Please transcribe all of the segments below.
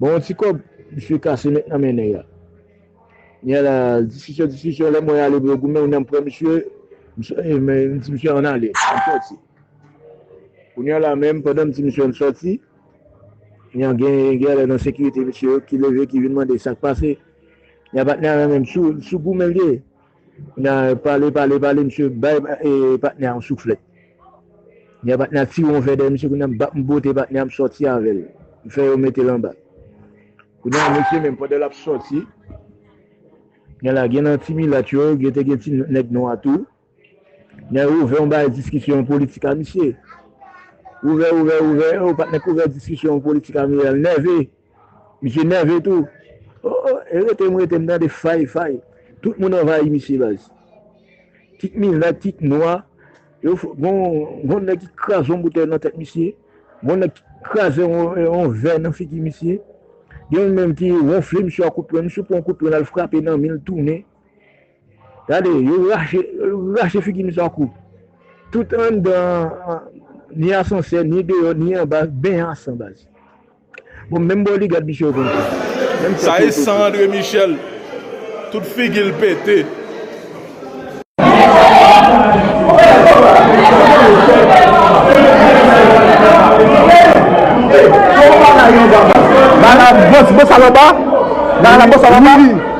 Bon yon ti kòb misye kase met nan men nèg la. Kounya la diskisyon diskisyon lè mwen ale pou yo goumen kounya m pran misye m di misye an n ale an n sòti. Kounya la menm pandan m di misye an n sòti kounya gen gen lè nan sekirite misye yo ki leve ki vin mande sa k pase. Kounya patnè a nan menm sou goumen l ye Nan pale pale pale misye bay patnè a yon souflèt. Kounye a patnè a tire yon vè dèyè misye kounye a m bat m bote patnè a m sòti avè l. M fè yo mete l anba. Kounye a misye menm pandan l ap sòti kounye a la gen nan ti milat yo gen te gen ti nèg nwa tou. Kounye a yo ouvè yon bagay diskisyon yon politik a misye. Ouvè ouvè ouvè o patnè k ouvè diskisyon yon politik a misye a l nève. Misye nève tou oh oh e rete m rete m tande fay fay tout moun anvayi misye baz kit milat kit nwa yo gon nèg ki kraze yon boutèy nan tèt misye gon nèg ki kraze yon vè nan figi misye gen yon menm ki wonfle misye a kout pwen misye pran yon kout pwen lal frape nan minl tounen Gade yo rache figi m san kou. Tout anndan an ni asansè ni deyò ni anba ben an san baz. Bon menm bò ligad misye yo konn fè. Sa e san Andre Michel tout figi l pete.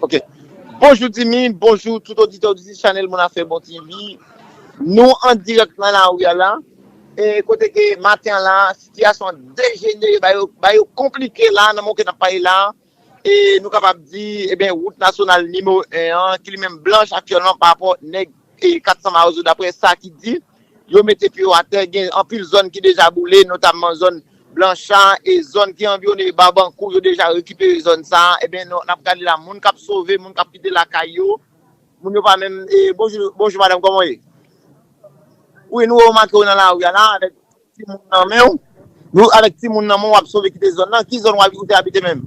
Ok, bonjou Dimy, bonjou tout oditè oditris chanèl Moun Afè Bon TV Nou an dirèk nan lari a la E kote ke maten an la sitiyasyon an dejenere ba yo ba yo konplike la nan moman ke n ap pale la E nou kapab di, eben wout nasyonal nimewo 1 an ki li menm blanch aktyèlman pa rapò nèg Ii, 400 mawozo daprè sa ki di, yo mete pye yo atè, gen anpil zòn ki deja boule, notamman zòn Blancha e zòn ki anviwone Babankou, yo deja rekipere zòn sa a, enben n ap gade la moun k ap sove, moun k ap kite lakay yo, moun yo pa menm, bonjou, bonjou madam kòman w ye? Wi nou wè w make w nan lari a la avèk timoun nan men w, nou avèk timoun nan men w w ap sove kite zòn nan, ki zòn ou te abite menm?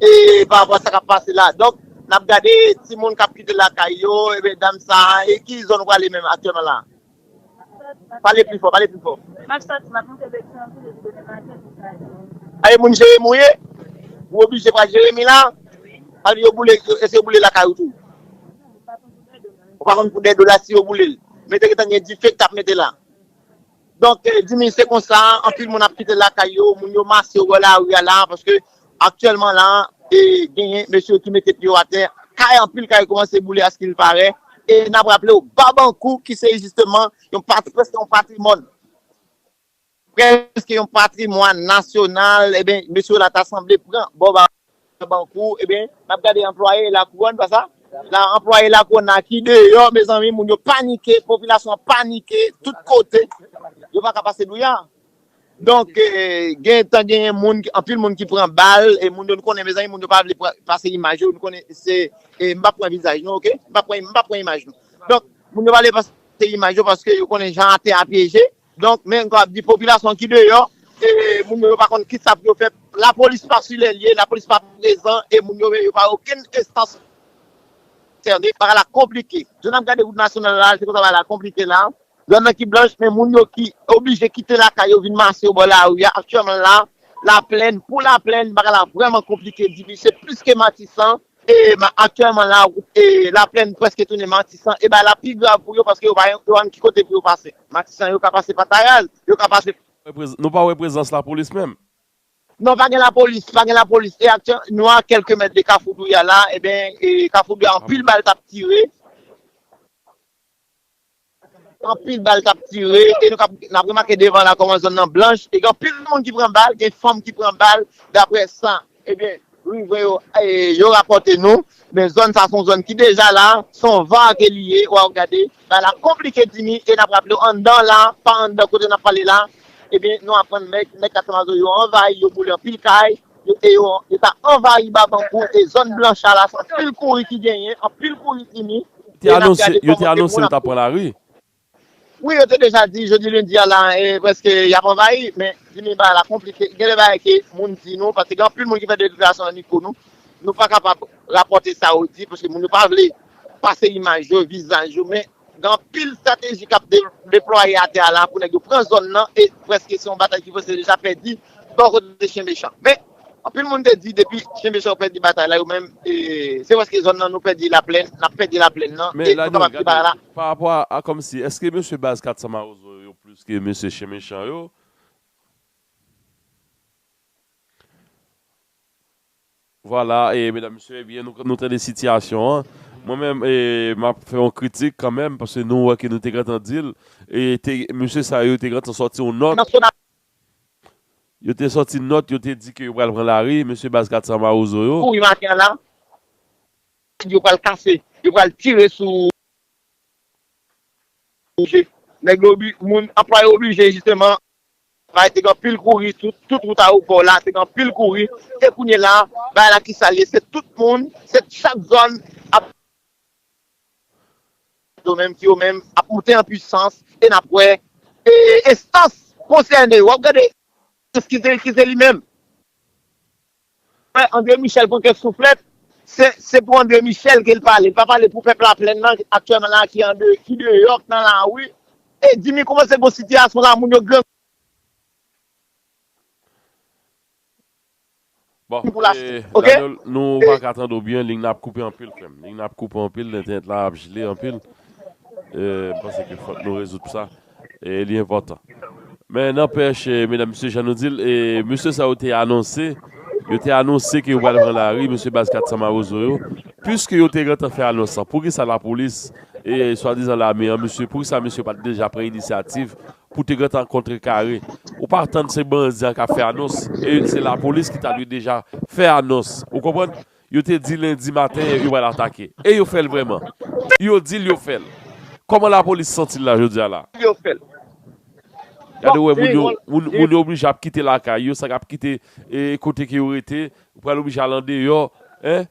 E pa rapò a sa kap pase la, donk nap gade timoun kap kite lakay yo, ebyen dam sa a, e ki zòn ou prale menm aktyèlman la a? Pale pi fò, pale pi fò. Map sòti, map moute Petyonvil epi demen maten pou Kazèk. A e moun Jeremi ou ye? Ou oblije pral Jeremi la? Wi. Pale yo boule, èske yo boule lakay ou tou? Non, ou pa konn pou dè do la. Ou pa konn pou dè do la si yo boule l? Men te gentan gen dife ki tap mete la? Donk Dimy se konsa anpil moun ap kite lakay yo, moun yo mase yo bò lari a la a paske aktyèlman la a e genyen mesye ki mete pye yo atè, kay anpil kay kòmanse boule askil parè e n ap raple w Babankou ki se jisteman yon pati prèske yon patrimòn prèske yon patrimwàn nasyonal e ben mesye yo la ta sanble pran bò ba Nan bank ou ebyen nap gade anplwaye lakouwòn pasa la anplwaye lakouwòn la ki deyò mezanmi moun yo panike popilasyon an panike tout kote yo paka pase douya donk gentan genyen moun anpil moun ki pran bal e moun yo nou konnen mezanmi moun yo pa vle pase imaj yo nou konnen se m pap pran vizaj nou ok m pap pran imaj nou donk moun yo pa vle pase imaj yo paske yo konnen jan atè a pyeje Donk men ankò ap di popilasyon ki deyò e moun yo yo pa konn kisa pou yo fè, lapolis pa su lè lye, lapolis pa prezan e moun yo men yo pa okenn enstans konsène. Bagay la konplike. Jan n ap gade wout nasyonal la, se konsa bagay la konplike la. Blan nan ki blanch men moun yo ki oblije kite lakay yo vin mase yo bò lari a. Aktyèlman la, Laplèn pou Laplèn bagay la vrèman konplike, difisil plis ke Matisan. Aktyèlman la, Laplèn prèske tounen Matisan, e bay la pi grav pou yo paske yo pa jwenn ki kote pou yo pase. Matisan yo ka pase pa Tayal, yo ka pase. Nou pa wè prezans lapolis menm? Non, pa gen lapolis, pa gen lapolis. E aktyèl, nou a kèlke mèt de Kafou Douya la, e ben, Kafou Douya anpil bal t ap tire. Anpil bal kap tire e nou kap nap remake devan la kòman zòn nan blanch e gen anpil moun ki pran bal, gen fanm ki pran bal daprè sa ebyen riven yo yo rapòte nou men zòn sa son zòn ki deja la son va ke li ye waw gade bagay la konplike Dimi e nap raplew anndan la pa anndan kote nap pale la ebyen nou aprann nèg katchamazo yo anvayi yo boule anpil kay. Yo te yo yo ta anvayi Babanbou e zòn Blancha la se anpil kouri ki genyen, anpil kouri fini Te e n ap anonse, gade yo te kòman kèk anonse moun yo t ap ap pran lari. Wi yo te deja di jodi lendi a la e prèske y ap anvayi men di men bagay la konplike gen de bagay ke moun di nou paske gen anpil moun ki fè deklarasyon nan mikwo nou nou pa kapab rapòte sa yo di paske moun yo pa vle pase imaj yo, vizaj yo men Gen anpil estrateji k ap deplwaye atè a la pou nèg yo pran zòn nan e prèske se yon batay ki prèske deja pèdi bò kote Chen Mechan. Men, anpil moun te di depi Chen Mechan yo pèdi batay la yo menm, se prèske zòn nan nou pèdi Laplèn, n ap pèdi Laplèn nan e nou kapab di bagay la. Parapò a kòmsi, èske mesye baz 400 mawozo yo yo plis ke mesye Chen Mechan yo? Vwala e medam mesye ebyen nou tande sitiyasyon an mwen menm e map fè yon kritik kanmenm paske nou wè ke nou te gentan dil e te mesye sa yo te gentan sòti yon nòt yo te sòti nòt yo te di ke yo pral pran lari mesye baz 400 mawozo yo. Kouri maten an la yo pral kase yo pral tire sou nèg yo moun anplwaye oblije jisteman. Bagay te gen anpil kouri sou tout wout aewopò la te gen anpil kouri e kounye la bagay la ki sa l ye se tout moun se chak zòn ap yo menm ki yo menm ap moute an pwisans e n ap wè enstans konsène yo w ap gade enstans ki se li menm. Wè Andre Michel pran kèk souflèt, se pou Andre Michel ke li pale, li pa pale pou pèp Laplèn nan aktyèlman la ki deyò, ki nan lari. E Jimmy koumanse gon sitiyasyon la moun yo grangou pou lachte. Ok? E li enpòtan. Men nanpèch, medam mesye jan nou di l, mesye sa yo te anonse, yo te anonse ke yo pral pran lari, mesye baz 400 mawozo yo, puiske yo te gentan fè anons lan, poukisa lapolis e swadizan lame an, mesye, poukisa mesye pa t deja pran inisyativ pou te gentan kontrekare? Ou pa atann se bandi an k ap fè anons, e se lapolis ki ta dwe deja fè anons, ou konprann? Yo te di lendi maten yo pral atake. E yo fè l vrèman? Yo di l yo fè l. Kòman lapolis santi l la jodi a la? Èske yo fè l? Gade ou wè moun yo, moun yo oblije ap kite lakay yo, sa k ap kite kote ke yo rete, yo pral oblije al andeyò, en,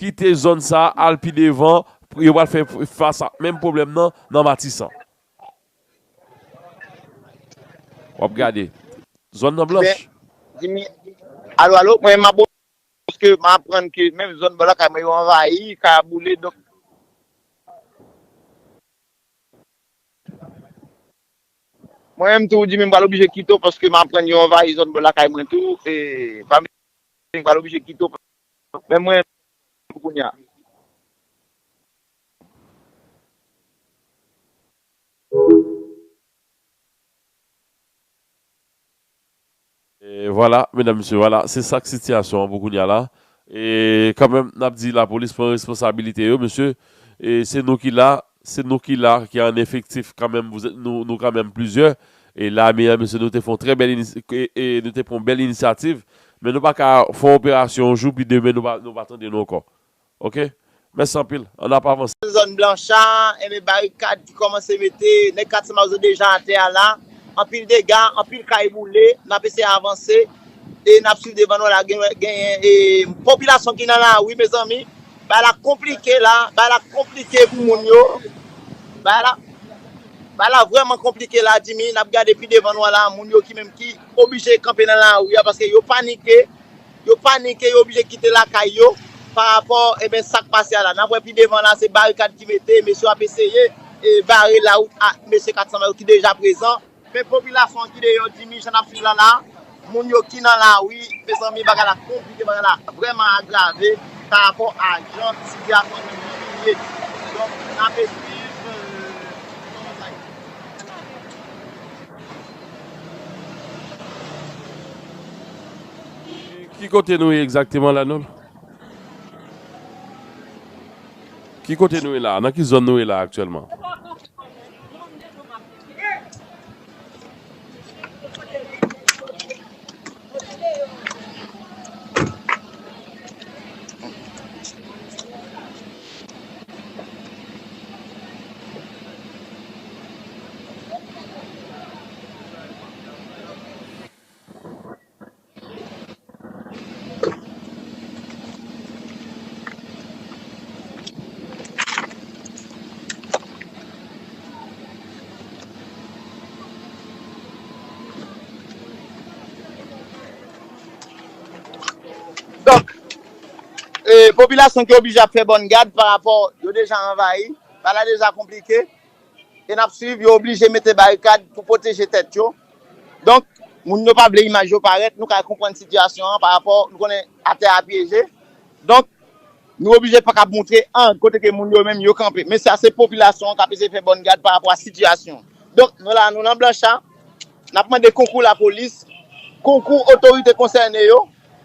kite zòn sa a, al pi devan, yo pral fè fas ak menm pwoblèm nan, nan Matisan. Wap gade. Zòn nan blanch. Jimmy, Alo alo, mwen map o Paske m aprann ke menm zòn bò lakay mwen yo anvayi, kay a boule donk. Mwen menm tou Jimmy m pral oblije kite w paske m aprann yo anvayi zòn bò lakay mwen tou e pa m pral oblije kite w paske menm mwen pou kounya. Vwala medam mesye vwala se sak sitiyasyon an pou kounya la e kanmenm nap di lapolis pran responsabilite yo mesye e se nou ki la se nou ki la ki an efektif kanmenm nou kanmenm plizyè e lame an mesye nou te fon trè bèl e nou te pran bèl inisyativ men nou paka fon operasyon yon jou pi demen nou pa tande nou ankò Ok Mèsi anpil An ap avanse. Nan zòn Blancha, enben barikad ki kòmanse mete nèg katye Mazo deja atè a la. Anpil dega, anpil kay boule. N ap eseye avanse e n ap swiv devan nou la genyen popilasyon ki nan lari mezanmi. Bagay la konplike la, bagay la konplike pou moun yo. Bagay la Bagay la vrèman konplike la Djimi. N ap gade pi devan nou an la moun yo ki menm ki oblije kanpe nan lari a paske yo panike. Yo panike, yo oblije kite lakay yo pa rapò eben sak pase a la. Nap wè pi devan la se barikad ki mete, mesye yo ap eseye bare la wout a mesye 400 la yo ki deja prezan. Men popilasyon an ki deyò Jimmy jan nap swiv la la, moun yo ki nan lari, mezanmi bagay la konplike bagay la vrèman agrave pa rapò a jan sitiyasyon nou menm ye. Donk nap eswiv kijan bagay la ye. Ki kote nou ye egzakteman la non? Ki kote nou ye la? Nan ki zòn nou ye la aktyèlman? Donk, popilasyon ki oblije ap fè bòn gad pa rapò yo deja anvayi, bagay la deja konplike. e nap swiv yo oblije mete barikad pou pwoteje tèt yo donk moun yo pa vle imaj yo parèt nou ka konprann sitiyasyon an pa rapò nou konnen atè a pyeje donk nou oblije paka ap moutre an kote ke moun yo menm yo kanpe men sa se popilasyon an kap eseye fè bòn gad pa rapò a sitiyasyon donk nou la nou nan blancha nap mande konkou lapolis konkou otorite konsène yo.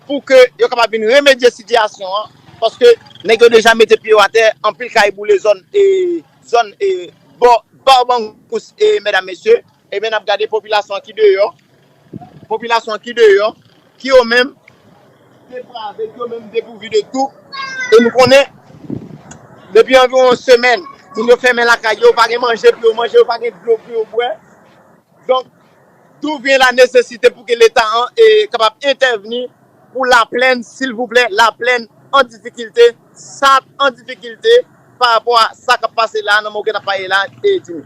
pou ke yo kapab vin remedye sitiyasyon an paske nèg yo deja mete pye yo atè anpil kay boule zòn e zòn e bò Barbancous e medam mesye ebyen nap gade popilasyon an ki deyò popilasyon an ki deyò ki yo menm deprave ki yo menm depouvi de tou e nou konnen depi anviwon yon semèn moun yo fèmen lakay yo yo pa gen manje pou yo manje yo pa gen dlo pou yo bwè. Donk, d'où vient la nécessité pou ke leta an kapab entèvni pou Laplèn silvouplè, Laplèn an difikilte, Sart an difikilte pa rapò a sa kap pase la, nan moman ke nap pale la e di nou.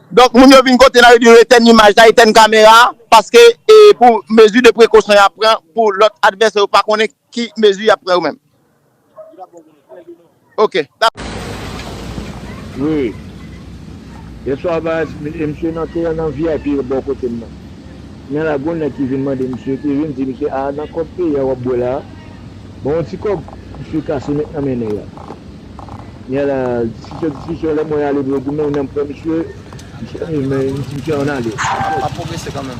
Donk moun yo vin kote la yo di yo etèn imaj la, etèn kamera a paske e pou mezi de prekosyon y ap pran pou lòt advèsè yo pa konnen ki mezi y ap pran yo menm. Ok. Wi. Yèswa baz, e misye nan te nan vip yo bò kote m nan. Men la gon nèg ki vin mande misye, ki vin di misye, a nan kòb peyi a w ap bwè la a? Bon yon ti kòb misye kase met nan men nèg la. Gen la diskisyon diskisyon lè mwen ale pou yo di men nan pran misye misye menm men yo di misye an ale ap pwogrese kanmenm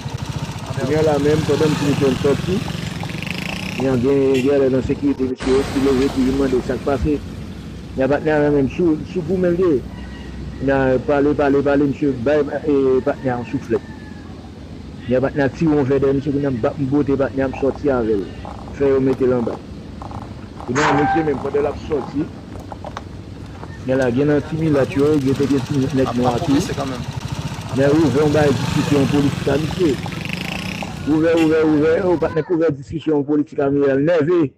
kounya la menm pandan m di misye an sòti yan gen gen lè nan sekirite misye yo ki leve ki vin mande sak pase yan patnè a menm sou sou goumen l te ye nan pale pale pale misye bay patnè a yon souflèt. Nèg patnè ak tiron vè dèyè misye kounya mbap mbote patnè a msòti avèl fè yo metel anba. Kounya misye menm pandan lap sòti nè la gen nan ti milat yo gen te gen ti nèg nwa tou nè ouvè yon bagay diskisyon politik a misye ouvè ouvè ouvè oh patnè k ouvè diskisyon politik a miral nève.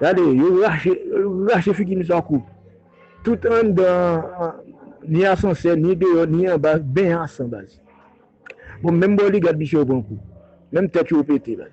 Gade yo rache rache figi misye an kou. Tout anndan an ni asansè ni deyò ni anba ben an san baz. Bon menm bò ligad misye yo pran kou. Menm tèt yo pete baz.